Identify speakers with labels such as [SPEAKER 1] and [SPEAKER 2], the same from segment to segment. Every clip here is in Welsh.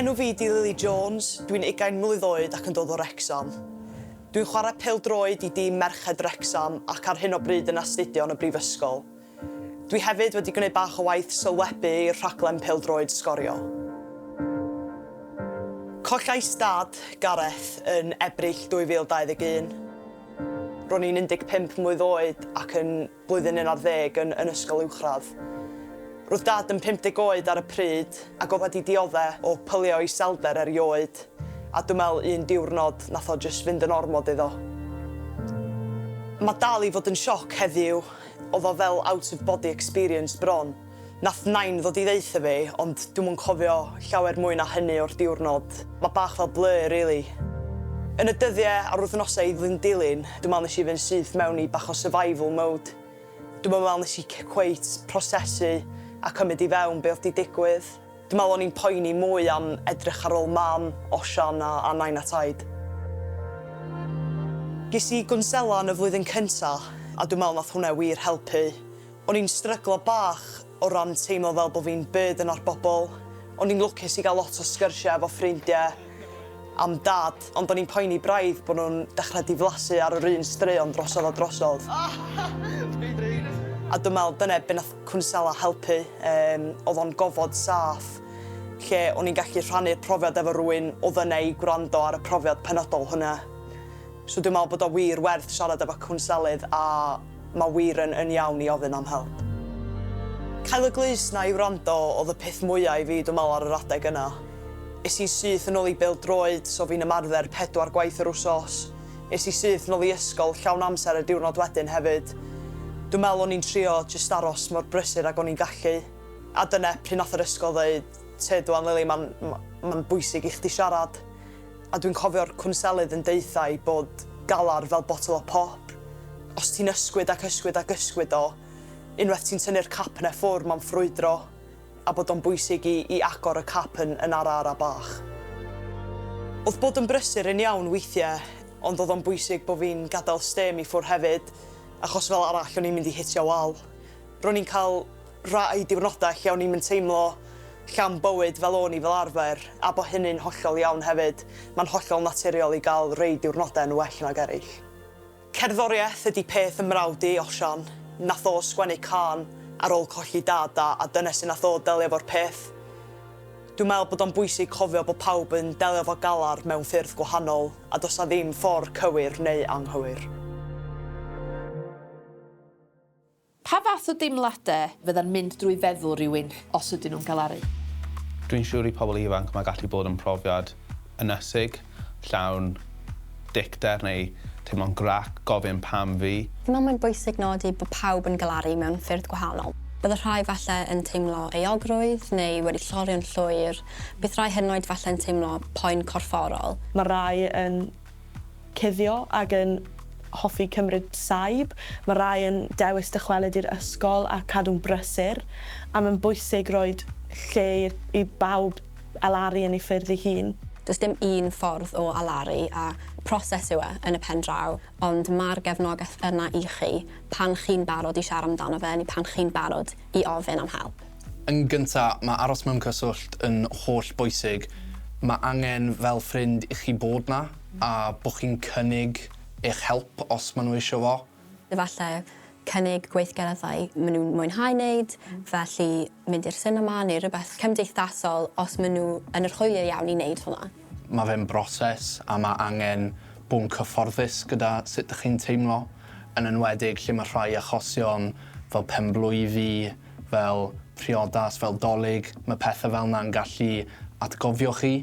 [SPEAKER 1] Enw fi 'di Lily Jones, dwi'n ugain mlwydd oed ac yn dod o Wrecsam. Dwi'n chwarae pêl-droed i dîm merched Wrecsam ac ar hyn o bryd yn astudio yn y brifysgol. Dwi hefyd wedi gwneud bach o waith sylwebu i'r rhaglen pêl-droed Sgorio. Collais dad, Gareth, yn Ebrill 2021. Ro'n i'n 15 mlwydd oed ac yn blwyddyn un ar ddeg yn yn ysgol uwchradd. Roedd Dad yn 50 oed ar y pryd ac oedd wedi diodde' o pylio iselder erioed, a dw me'l un diwrnod nath o jyst fynd yn ormod iddo. Ma' dal i fod yn sioc heddiw, oedd o fel out of body experience bron. Nath Nain ddod i ddeutha fi, ond dwi'm yn cofio llawer mwy na hynny o'r diwrnod. Mae bach fel blur rili. Yn y dyddie a'r wythnosau i ddyn dilyn, dwi'n meddwl nes i fynd syth mewn i bach o survival mode. Dwi'm yn meddwl nes i cweit prosesu a cymyd i fewn be oedd 'di digwydd. Dwi'n meddwl o'n i'n poeni mwy am edrych ar ôl Mam, Osian a a Nain a Taid. Ges i gwnsela yn y flwyddyn cynta, a dwi'n meddwl nath hwnna wir helpu. O'n i'n stryglo bach o ran teimlo fel bod fi'n burden ar bobl. O'n i'n lwcus i gael lot o sgyrsiau efo ffrindiau am Dad, ond o'n i'n poeni braidd bod nhw'n dechrau diflasu ar yr un straeon drosodd a drosodd. A dwi'n meddwl dyna be wnaeth cwnsela helpu, yym, oedd o'n gofod saff lle o'n i'n gallu rhannu'r profiad efo rywun oedd yna i gwrando ar y profiad penodol hwnna. So dwi'n meddwl bod o wir werth siarad efo cwnselydd a Mae wir yn yn iawn i ofyn am help. Cael y glust 'na i wrando oedd y peth mwya i fi dw meddwl ar yr adeg yna. Es i'n syth yn ôl i bêl-droed, so fi'n ymarfer pedwar gwaith yr wsos. Es i syth nôl i ysgol llawn amser y diwrnod wedyn hefyd. Dw meddwl o'n i'n trio jyst aros mor brysur ag o'n i'n gallu. A dyna pryd nath yr ysgol ddeud, Tyd wan Lili, ma'n ma'n bwysig i chdi siarad. A dwi'n cofio'r cwnselydd yn deutha i bod galar fel botel o pop, os ti'n ysgwyd ac ysgwyd ac ysgwyd o, unwaith ti'n tynnu'r cap 'na ffwr' ma'n ffrwydro, a bod o'n bwysig i i agor y cap yn yn ara ara bach. O'dd bod yn brysur yn iawn weithie, ond o'dd o'n bwysig bo' fi'n gadael stêm i ffwr' hefyd, achos fel arall o'n i'n mynd i hitio wal. Ro'n i'n cael Rhai diwrnodau lle o'n i'm yn teimlo llawn bywyd fel o'n i fel arfer, a bo hynny'n hollol iawn hefyd. Mae'n hollol naturiol i gael rhei diwrnodau yn well nag eraill. Cerddoriaeth ydi peth fy mrawd i, Osian. Nath o sgwennu cân ar ôl colli dad a a dyna sut nath o delio efo'r peth. Dwi'n meddwl bod o'n bwysig cofio bod pawb yn delio efo galar mewn ffyrdd gwahanol a does 'na ddim ffordd cywir neu anghywir.
[SPEAKER 2] Pa fath o deimladau fydda'n mynd drwy feddwl rhywun os ydyn nhw'n galaru? Dwi'n siŵr
[SPEAKER 3] i pobl ifanc mae gallu bod yn profiad ynysig, llawn dicter neu teimlo'n grac, gofyn 'pam fi? Yma mae'n bwysig
[SPEAKER 4] nodi bod pawb yn galaru mewn ffyrdd gwahanol. Bydd y rhai falle yn teimlo euogrwydd neu wedi llorio'n llwyr, bydd rhai hyd yn oed falle'n teimlo poen corfforol. Mae rhai yn
[SPEAKER 5] cuddio ac yn hoffi cymryd saib. Mae rhai yn dewis dychwelyd i'r ysgol a cadw'n brysur, a mae'n bwysig rhoi lle i bawb alaru yn ei ffyrdd ei hun. Does dim un
[SPEAKER 4] ffordd o alaru a proses yw e yn y pen draw, ond mae'r gefnogaeth yna i chi pan chi'n barod i siarad amdano fe neu pan chi'n barod i ofyn am help. Yn gynta,
[SPEAKER 6] mae aros mewn cyswllt yn holl bwysig. Mae angen fel ffrind i chi bod 'na a bod chi'n cynnig eich help os maen nhw eisiau fo. Efallai
[SPEAKER 4] cynnig gweithgareddau maen nhw'n mwynhau wneud, felly mynd i'r sinema neu rhywbeth cymdeithasol os maen nhw yn yr hwyliau iawn i wneud hwnna. Mae fe'n broses
[SPEAKER 6] a mae angen bod yn cyfforddus gyda sut dych chi'n teimlo, yn enwedig lle mae rhai achosion fel penblwydd fi, fel priodas, fel 'Dolig, ma' pethe fel 'na'n gallu atgofio chi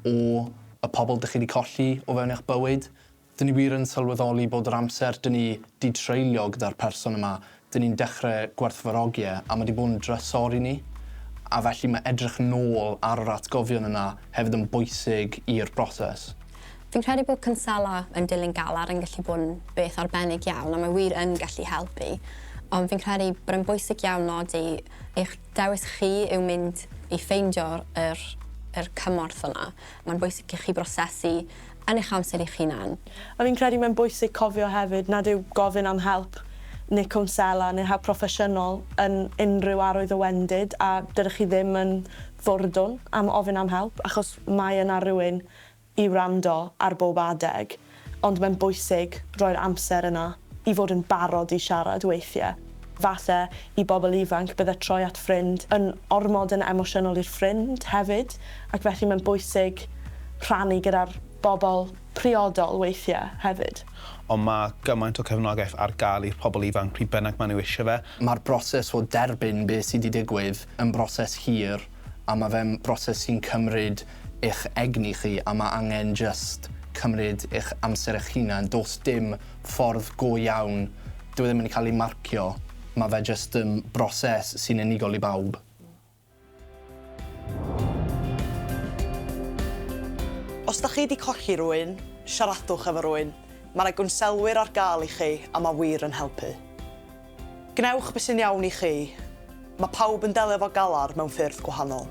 [SPEAKER 6] o y pobl dych chi 'di colli o fewn eich bywyd. Dyn ni wir yn sylweddoli bod yr amser dyn ni 'di treulio gyda'r person yma, dyn ni'n dechre gwerthfawrogi e, a ma' 'di bod yn drysor i ni. A felly ma' edrych nôl ar yr atgofion yna hefyd yn bwysig i'r broses. Fi'n credu bod
[SPEAKER 4] cwnselo yn dilyn galar yn gallu bod yn beth arbennig iawn a mae wir yn gallu helpu, ond fi'n credu bod e'n bwysig iawn nodi eich dewis chi yw mynd i ffeindio yr yr cymorth yna. Mae'n bwysig i chi brosesu yn eich amser
[SPEAKER 5] eich hunan. A fi'n credu
[SPEAKER 4] mae'n
[SPEAKER 5] bwysig cofio hefyd nad yw gofyn am help neu cwnsela neu help proffesiynol yn unrhyw arwydd o wendid a dydych chi ddim yn fwrdwn am ofyn am help achos mae yna rywun i wrando ar bob adeg, ond mae'n bwysig roi'r amser yna i fod yn barod i siarad weithiau. Falle, i bobl ifanc, bydde troi at ffrind yn ormod yn emosiynol i'r ffrind hefyd, ac felly mae'n bwysig rhannu gyda'r bobl priodol weithiau hefyd. Ond mae
[SPEAKER 3] gymaint o cefnogaeth ar gael i'r pobl ifanc pryd bynnag maen nhw eisiau fe. Mae'r broses o
[SPEAKER 6] derbyn beth sydd wedi digwydd yn broses hir, a ma' fe'n broses sy'n cymryd eich egni chi a ma' angen jyst cymryd eich amser eich hunan. Do's dim ffordd go iawn, dyw e ddim yn cael ei marcio, ma' fe jyst yn broses sy'n unigol i bawb.
[SPEAKER 1] Os dach chi 'di colli rhywun, siaradwch efo rhywun, ma' 'na gwnsellwyr ar gael i chi a ma' wir yn helpu. Gwnewch be sy'n iawn i chi. Mae pawb yn delio efo galar mewn ffyrdd gwahanol.